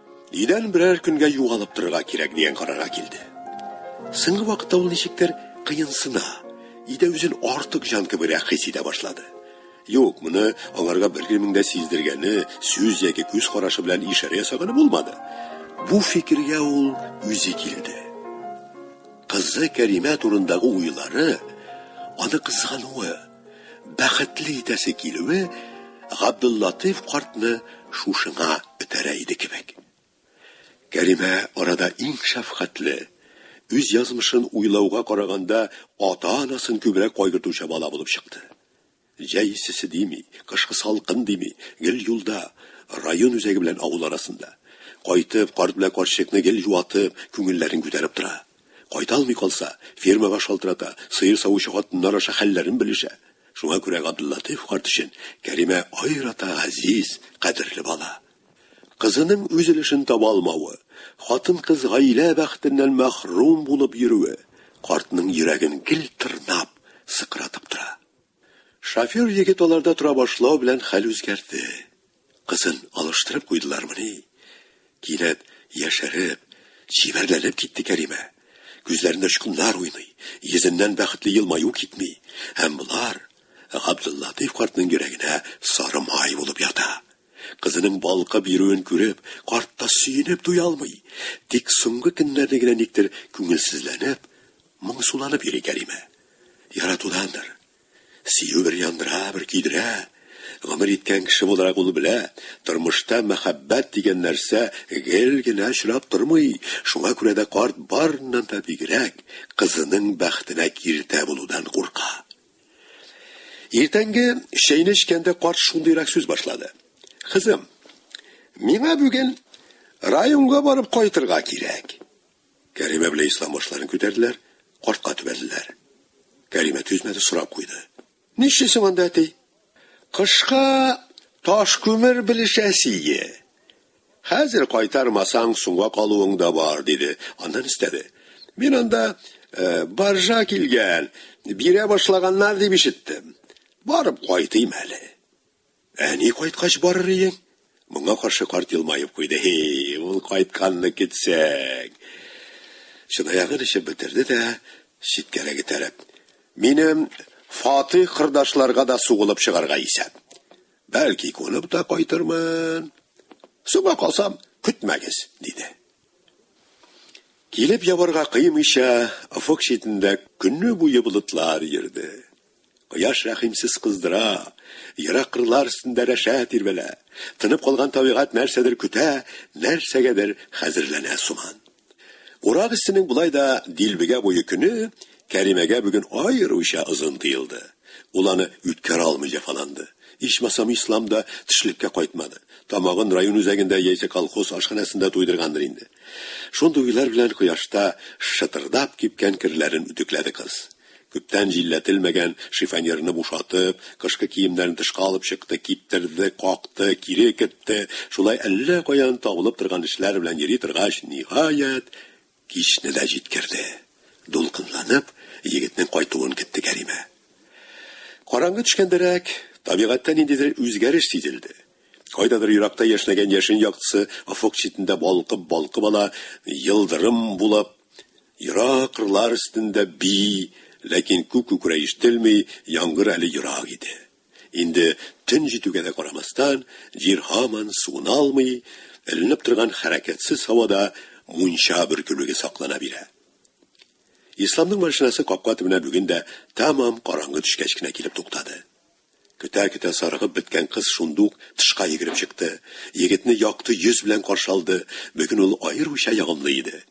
Өйдән берәр көнгә югалып торырга кирәк дигән карарга килде. Соңгы вакытта ул ничектер кыенсына, өйдә үзен артык җан кебегрәк хис итә башлады. Юк, моны аңарга беркемнең дә сиздергәне, сүз яки күз карашы белән ишарә ясаганы булмады. Бу фикергә ул үзе килде. Кызы Кәримә турындагы уйлары аны кызгануы, бәхетле итәсе килүе Габдуллатыйф картны шушыңа этәрә иде кебек. Кәримә арада иң шәфкатьле, үз язмышын уйлауга караганда ата-анасын күбрәк кайгыртучы бала булып чыкты. Җәй иссесе дими, кышкы салкын дими, гел юлда, район үзәге белән авыл арасында. Кайтып, карт белән карчыкны гел юатып, күңелләрен күтәреп тора. Кайталмый калса, фермага шалтырата, сыер савучы хатыннар аша хәлләрен белешә. Шуңа күрә Габделлатыйф карт өчен Кәримә аерата газиз, кадерле бала. Кызының үз өлешен таба алмавы, хатын-кыз гаилә бәхетеннән мәхрүм булып йөрүе картның йөрәген гел тырнап, сыкратып тора. Шофер егет аларда тора башлау белән хәл үзгәрде. Кызын алыштырып куйдылармыни? Кинәт яшәреп, чибәрләнеп китте Кәримә. Күзләрендә очкыннар уйный, йөзеннән бәхетле елмаю китми, һәм болар Габдуллатыйф картның йөрәгенә сары май булып ята. Кызының балкып йөрүен күреп, карт та сөенеп туя алмый. Тик соңгы көннәрне генә никтер күңелсезләнеп, моңсуланып йөри Кәримә. Яратудандыр. Сөю бер яндыра, бер көйдерә. Гомер иткән кеше буларак ул белә, тормышта мәхәббәт дигән нәрсә гел генә очрап тормый, шуңа күрә дә карт барыннан да бигрәк кызының бәхетенә киртә булудан курка. Иртәнге чәйне эчкәндә карт шундыйрак сүз башлады. Кызым, миңа бүген районга барып кайтырга кирәк. Кәримә белән Ислам башларын күтәрделәр, картка төбәлделәр. Кәримә түзмәде, сорап куйды. Нишлисең анда, әти? Кышка таш күмер белешәсие. Хәзер кайтармасаң, соңга калуың да бар, диде. Аннан өстәде. Мин анда э, баржа килгән, бирә башлаганнар дип ишеттем. Барып кайтыйм әле. Әни кайткач барыр иең. Моңа каршы карт елмаеп куйды. Һи, ул кайтканны көтсәң. Чынаягын эчеп бетерде дә, читкәрәк этәреп. Минем Фатыйх кырдашларга да сугылып чыгарга исәп. Бәлки, күнеп тә кайтырмын. Соңга калсам, көтмәгез, диде. Килеп ябарга кыймыйча, офык читендә көне буе болытлар йөрде. Кояш рәхимсез кыздыра, ерак кырлар өстендә рәшә тирбәлә. Тынып калган табигать нәрсәдер көтә, нәрсәгәдер хәзерләнә сыман. Урак өстенең болай да дилбегә буе көне Кәримәгә бүген аеруча озын тоелды. Ул аны үткәрә алмый җәфаланды. Ичмасам, Ислам да төшлеккә кайтмады. Тамагын район үзәгендә яисә колхоз ашханәсендә туйдыргандыр инде. Шундый уйлар белән кояшта шытырдап кипкән керләрен үтекләде кыз. Күптән җилләтелмәгән шифоньерны бушатып, кышкы киемнәрен тышка алып чыкты, киптерде, какты, кире кертте. Шулай әллә каян табылып торган эшләр белән йөри торгач, ниһаять, Кичне дә җиткерде. Дулкынланып, егетнең кайтуын көтте Кәримә. Караңгы төшкәндәрәк, табигатьтә ниндидер үзгәреш сизелде. Кайдадыр еракта яшьнәгән яшен яктысы офык читендә балкып-балкып ала, йылдырым булып, ерак кырлар өстендә бии, ләкин күк күкрәй ишетелми, яңгыр әле ерак иде. Инде төн җитүгә дә карамастан, җир һаман суына алмый, эленеп торган хәрәкәтсез һавада мунча бөркелүге саклана бирә. Исламның машинасы капка төбенә бүген дә тәмам караңгы төшкәч кенә килеп туктады. Көтә-көтә сарыгып беткән кыз шундук тышка йөгереп чыкты, егетне якты йөз белән каршы алды, бүген ул аеруча ягымлы иде.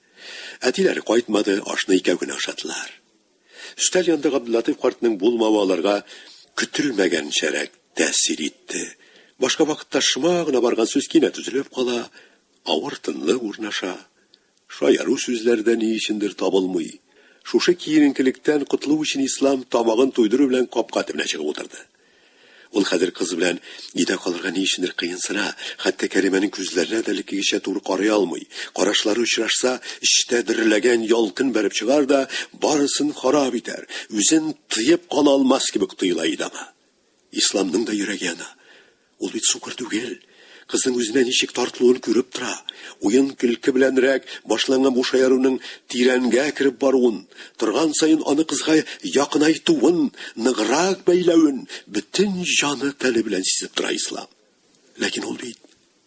Әтиләре кайтмады, ашны икәү генә ашадылар. Өстәл янында Габдуллатыйф картның булмавы аларга көтелмәгәнчәрәк тәэсир итте. Башка вакытта шома гына барган сүз кинәт өзелеп кала, авыр тынлык урнаша. Шаяру сүзләр дә ни өчендер табылмый. Шушы киеренкелектән котылу өчен Ислам, тамагын туйдыру белән, капка төбенә чыгып утырды. Ул хәзер кыз белән өйдә калырга ни өчендер кыенсына, хәтта Кәримәнең күзләренә дә элеккегечә туры карый алмый. Карашлары очрашса, эчтә дөрләгән ялкын бәреп чыгар да, барысын харап итәр. Үзен тыеп кала алмас кебек тоела иде аңа. Исламның да йөрәге яна. Ул бит сукыр түгел. Кызның үзенә ничек тартылуын күреп тора. Уен-көлке беләнрәк башланган бу шаяруның тирәнгә кереп баруын, торган саен аны кызга якынайтуын, ныграк бәйләвен бөтен җаны-тәне белән сизеп тора Ислам. Ләкин ул бит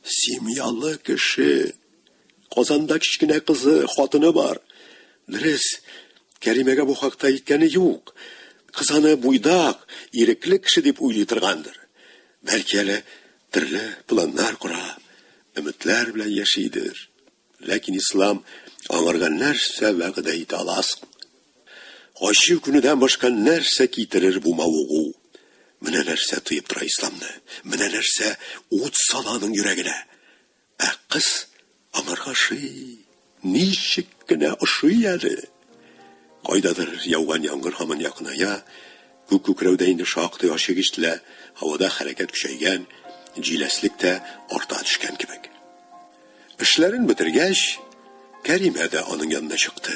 семьялы кеше. Казанда кечкенә кызы, хатыны бар. Дөрес, Кәримәгә бу хакта әйткәне юк. Кыз аны буйдак, ирекле кеше дип уйлый торгандыр. Бәлки әле төрле планнар кора, өметләр белән яшидер. Ләкин ислам аңарга нәрсә вәгъдә итә аласың? Ачу көнедән башка нәрсә китерер бу мавыгу? Менә нәрсә тыеп тора исламны. Менә нәрсә ут сала аның йөрәгенә. Ә кыз аңарга ошый. Ничек кенә ошый әле! Кайдадыр яуган яңгыр һаман якыная, күк күкрәүдә инде шактый ачык ишетелә, һавада хәрәкәт көчәйгән, җиләслек тә арта төшкән кебек. Эшләрен бетергәч, Кәримә дә аның янына чыкты.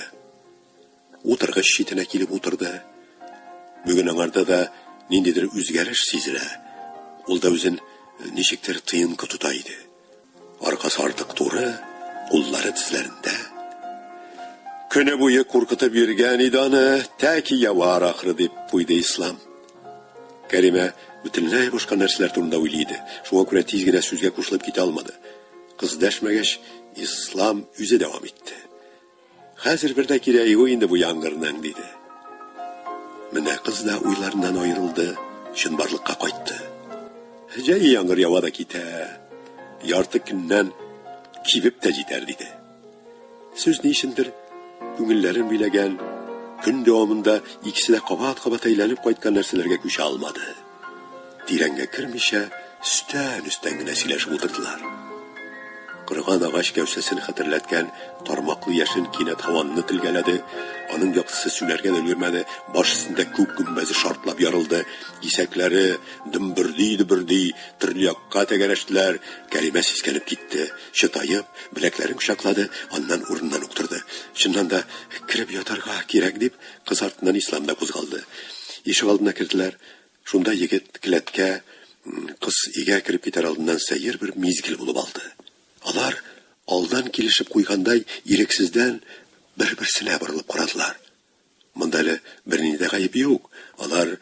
утыргыч читенә килеп утырды. Бүген аңарда да ниндидер үзгәреш сизелә. Ул да үзен ничектер тыенкы тота иде. Аркасы артык туры, куллары тезләрендә. Көне буе куркытып йөргән иде аны, тәки явар ахры, дип куйды Ислам. Кәримә бөтенләй башка нәрсәләр турында уйлый иде. Шуңа күрә тиз генә сүзгә кушылып китә алмады. Кыз дәшмәгәч, Ислам үзе дәвам итте. Хәзер бер дә кирәге юк инде бу яңгырның, диде. Менә кыз да уйларыннан аерылды, чынбарлыкка кайтты. Җәй яңгыр ява да китә. Ярты көннән кибеп тә җитәр, диде. Сүз ни өчендер күңелләрен биләгән, көн дәвамында икесе дә кабат-кабат әйләнеп кайткан нәрсәләргә күчә алмады. Тирәнгә кермичә, өстән-өстән генә сөйләшеп утырдылар. Кырган агач гәүсәсен хәтерләткән тармаклы яшен кинәт һаванны телгәләде, аның яктысы сүнәргә дә өлгермәде, баш өстендә күк гөмбәзе шартлап ярылды, кисәкләре дөмберди-дөберди төрле якка тәгәрәштеләр, Кәримә сискәнеп китте, чытаеп, беләкләрен кочаклады, аннан урыныннан ук торды. Чыннан да, кереп ятарга кирәк, дип, кыз артыннан Ислам да кузгалды. Ишегалдына керделәр. Шунда егет келәткә кыз өйгә кереп китәр алдыннан сәер бер мизгел булып алды. Алар, алдан килешеп куйгандай, ирексездән бер-берсенә борылып карадылар. Монда әле бернинди дә гаеп юк. Алар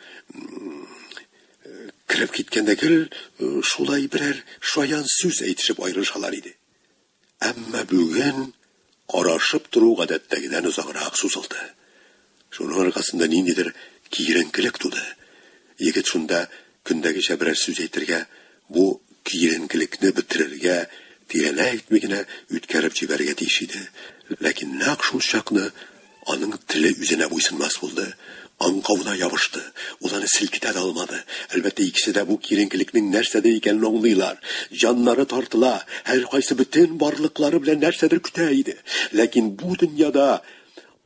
кереп киткәндә гел шулай берәр шаян сүз әйтешеп аерылышалар иде. Әмма бүген карашып тору гадәттәгедән озаграк сузылды. Шуның аркасында ниндидер киеренкелек туды. Егет шунда көндәгечә берәр сүз әйтергә, бу киеренкелекне бетерергә, тирәләй итми генә үткәреп җибәрергә тиеш иде. Ләкин нәкъ шул чакны Аның теле үзенә буйсынмас булды. Аңкавына ябышты. Ул аны селкетә дә алмады. Әлбәттә, икесе дә бу киеренкелекнең нәрсәдә икәнен аңлыйлар. Җаннары тартыла, һәркайсы бөтен барлыклары белән нәрсәдер көтә иде. Ләкин бу дөньяда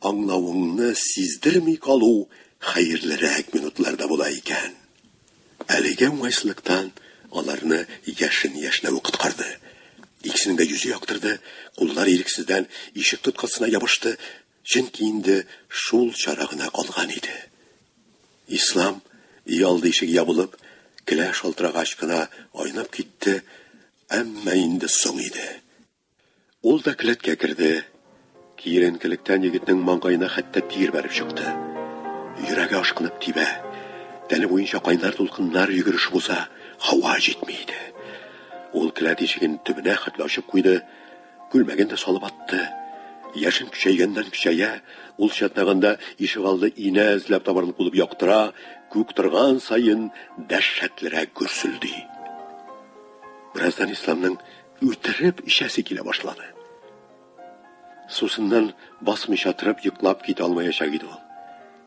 аңлавыңны сиздерми калу хәерлерәк минутлар да була икән. Әлеге уңайсызлыктан аларны яшен яшьнәве коткарды. Икесенең дә йөзе яктырды, куллары ирексездән ишек тоткасына ябышты, чөнки инде шул чара гына калган иде. Ислам, өй алды ишеге ябылып, келә шалтырагач кына айнып китте, әмма инде соң иде. Ул да келәткә керде. Киеренкелектән егетнең маңгаена хәтта тир бәреп чыкты. Йөрәге ашкынып тибә. Тәне буенча кайнар дулкыннар йөгерешеп уза, һава җитми иде. Ул келәт ишеген төбенә хәтле ачып куйды, күлмәген дә салып атты. Яшен көчәйгәннән-көчәя, ул чатнаганда ишегалды инә эзләп табарын кулып яктыра, күк торган саен дәһшәтлерәк гөрселди. Бераздан Исламның Үтереп эчәсе килә башлады. Сусыннан басмыйча торып йоклап китә алмаячак иде ул.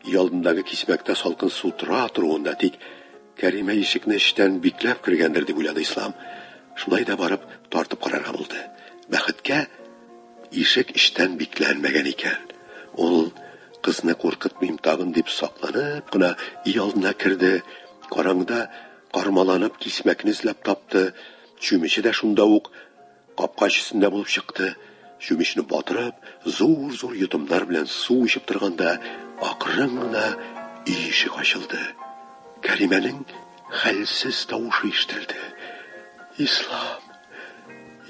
Өй алдындагы кисмәктә салкын су тора торуын да тик Кәримә ишекне эчтән бикләп кергәндер дип уйлады Ислам. Шулай да барып тартып карарга булды. Бәхеткә, ишек эчтән бикләнмәгән икән. Ул, кызны куркытмыйм тагын дип сакланып кына, өй алдына керде. Караңгыда кармаланып кисмәкне эзләп тапты. Чүмече дә шунда ук капкач өстендә булып чыкты. Чүмечне батырып, зур-зур йотымнар белән су эчеп торганда, акрын гына өй ишек ачылды. Кәримәнең хәлсез тавышы ишетелде. Ислам,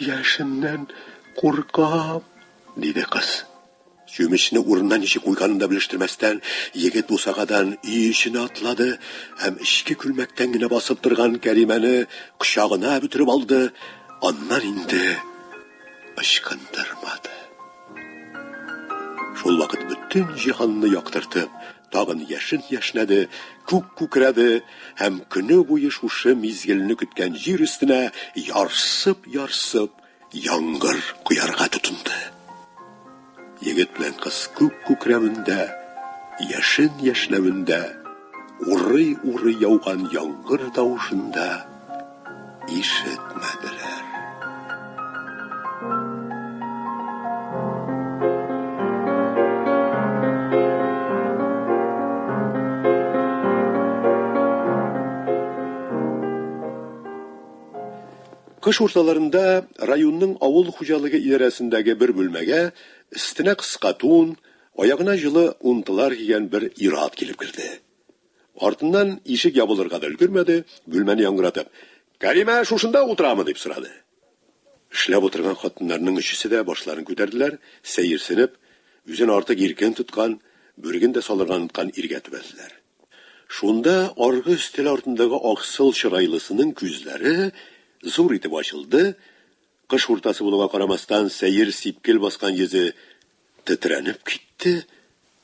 яшеннән куркам, диде кыз. Чүмечне урынына ничек куйганын да белештермәстән, егет бусагадан өй эченә атлады һәм эчке күлмәктән генә басып торган Кәримәне кочагына бөтереп алды, аннан инде ычкындырмады. Шул вакыт бөтен җиһанны яктыртып, тагын яшен яшьнәде, күк күкрәде һәм көне буе шушы мизгелне көткән җир өстенә ярсып-ярсып Яңгыр коярга тотынды. Егет белән кыз күк күкрәвендә, яшен яшьләвендә, урый-урый яуган яңгыр тавышында ишетмәделәр. Кыш урталарында районның авыл хуҗалыгы идарәсендәге бер бүлмәгә өстенә кыска тун, аягына җылы унтылар кигән бер ир-ат килеп керде. Артыннан ишек ябылырга да өлгермәде, бүлмәне яңгыратып, Кәримә шушында утырамы? дип сорады. Эшләп утырган хатыннарның өчесе дә башларын күтәрделәр, сәерсенеп, үзен артык иркен тоткан, бүреген дә салырга оныткан иргә төбәлделәр. Шунда аргы өстәл артындагы аксыл чырайлысының күзләре зур итеп ачылды, кыш уртасы булуга карамастан, сәер сипкел баскан йөзе тетрәнеп китте,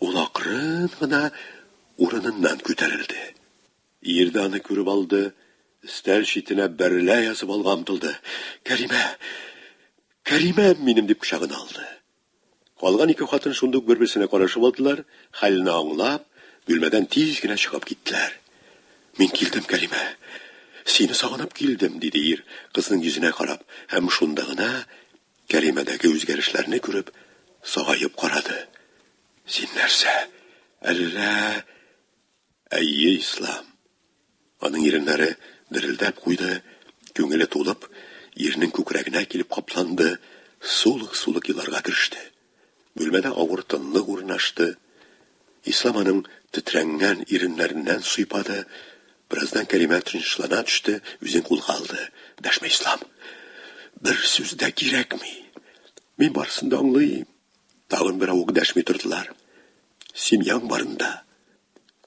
ул акрын гына урыныннан күтәрелде. Ир дә аны күреп алды, өстәл читенә бәрелә язып алга омтылды. Кәримә! Кәримәм минем! дип кочагына алды. Калган ике хатын шундук бер-берсенә карашып алдылар, хәлне аңлап, бүлмәдән тиз генә чыгып киттеләр. Мин килдем, Кәримә. Сине сагынып килдем, диде ир, кызның йөзенә карап, һәм шунда гына Кәримәдәге үзгәрешләрне күреп, сагаеп карады. Син нәрсә, әллә Әйе, Ислам. Аның иреннәре дерелдәп куйды, күңеле тулып, ирнең күкрәгенә килеп капланды, сулык-сулык еларга кереште. Бүлмәдә авыр тынлык урнашты. Ислам аның тетрәнгән иреннәреннән сыйпады. Бераздан Кәримә тынычлана төште, үзен кулга алды. Дәшмә, Ислам! Бер сүз дә кирәкми! Мин барысын да аңлыйм! Тагын беравык дәшми тордылар. Семьяң барында,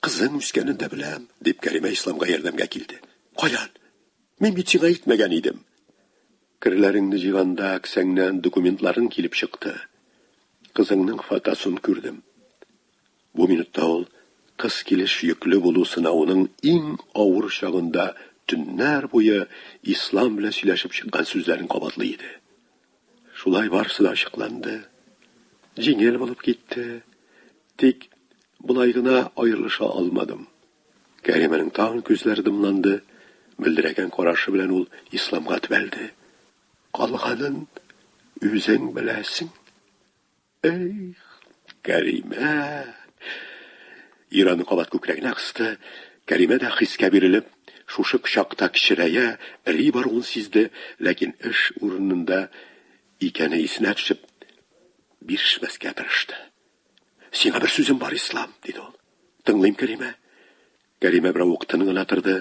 Кызың үскәнен дә беләм, дип Кәримә Исламга ярдәмгә килде. Каян? Мин бит сиңа әйтмәгән идем. Керләреңне җыйганда кесәңнән документларың килеп чыкты. Кызыңның фотосын күрдем. Бу минутта ул кыз килеш йөкле булу сынавының иң авыр чагында төннәр буе Ислам белән сөйләшеп чыккан сүзләрен кабатлый иде. Шулай барысы да ачыкланды. Җиңел булып китте. Тик болай гына аерылыша алмадым. Кәримәнең тагын күзләре дымланды, мөлдерәгән карашы белән ул исламга төбәлде. Калганын үзең беләсең. Эх, Кәримә! Ираны кабат күкрәгенә кысты. Кәримә дә хискә бирелеп, шушы кочакта кечерәя, эри баруын сизде, ләкин эш урынында икәне исенә төшеп, бирешмәскә тырышты. Сиңа бер сүзем бар, Ислам, диде ул. Тыңлыйм, Кәримә. Кәримә берәү ук тын гына торды.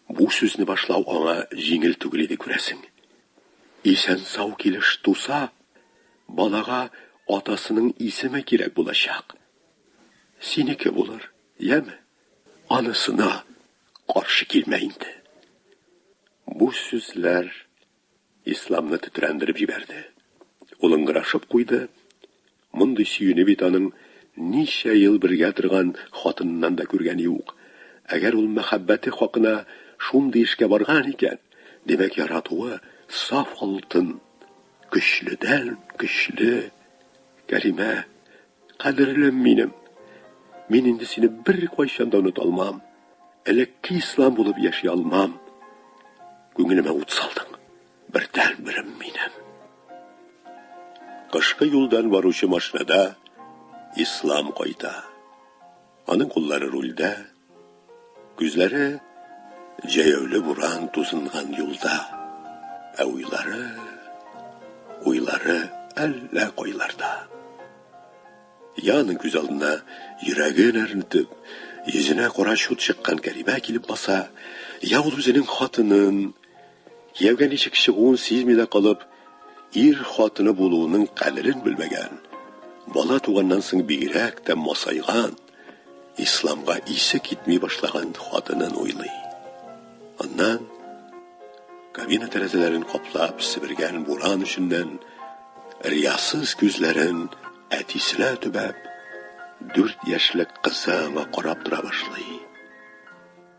Бу сүзне башлау аңа җиңел түгел иде, күрәсең. Исән-сау килеш туса, балага атасының исеме кирәк булачак. Синеке булыр, яме? Анысына каршы килмә инде. Бу сүзләр Исламны тетрәндереп җибәрде. Ул ыңгырашып куйды. Мондый сөюне бит аның ничә ел бергә торган хатыныннан да күргәне юк. Әгәр ул мәхәббәте хакына шундый эшкә барган икән, димәк, яратуы саф алтын, көчледән-көчле. Кәримә, Кадерлем минем, мин инде сине бер кайчан да оныта алмам. Элекке ислам булып яши алмам. Күңелемә ут салдың. Бердән берем минем. Кышкы юлдан баручы машинада ислам кайта. Аның куллары рульдә, күзләре җәяүле буран тузынган юлда. Ә уйлары, уйлары әллә кайларда. Я аның күз алдына йөрәген әрнетеп, йөзенә кара чут чыккан Кәримә килеп баса, я ул үзенең хатынын, Кияүгә ничек чыгуын сизми дә калып, ир хатыны булуының кадерен белмәгән, бала туганнан соң бигрәк тә масайган, исламга исе китми башлаган хатынын уйлый. Аннан, кабина тәрәзәләрен каплап себергән буран өченнән, риясыз күзләрен әтисенә төбәп, дүрт яшьлек кызы аңа карап тора башлый.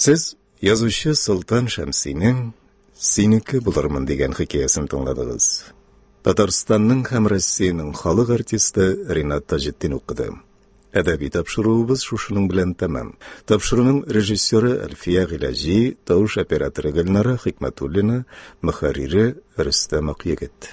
Сез язучы Солтан Шәмсинең Синеке булырмын дигән хикәясен тыңладыгыз. Татарстанның һәм Россиянең халык артисты Ринат Таҗетдин укыды. Әдәби тапшыруыбыз шушының белән тәмам. Тапшыруның режиссеры Әлфия Гыйләҗи, тавыш операторы Гөлнара Хикмәтуллина, мөхәррире Рөстәм Акъегет.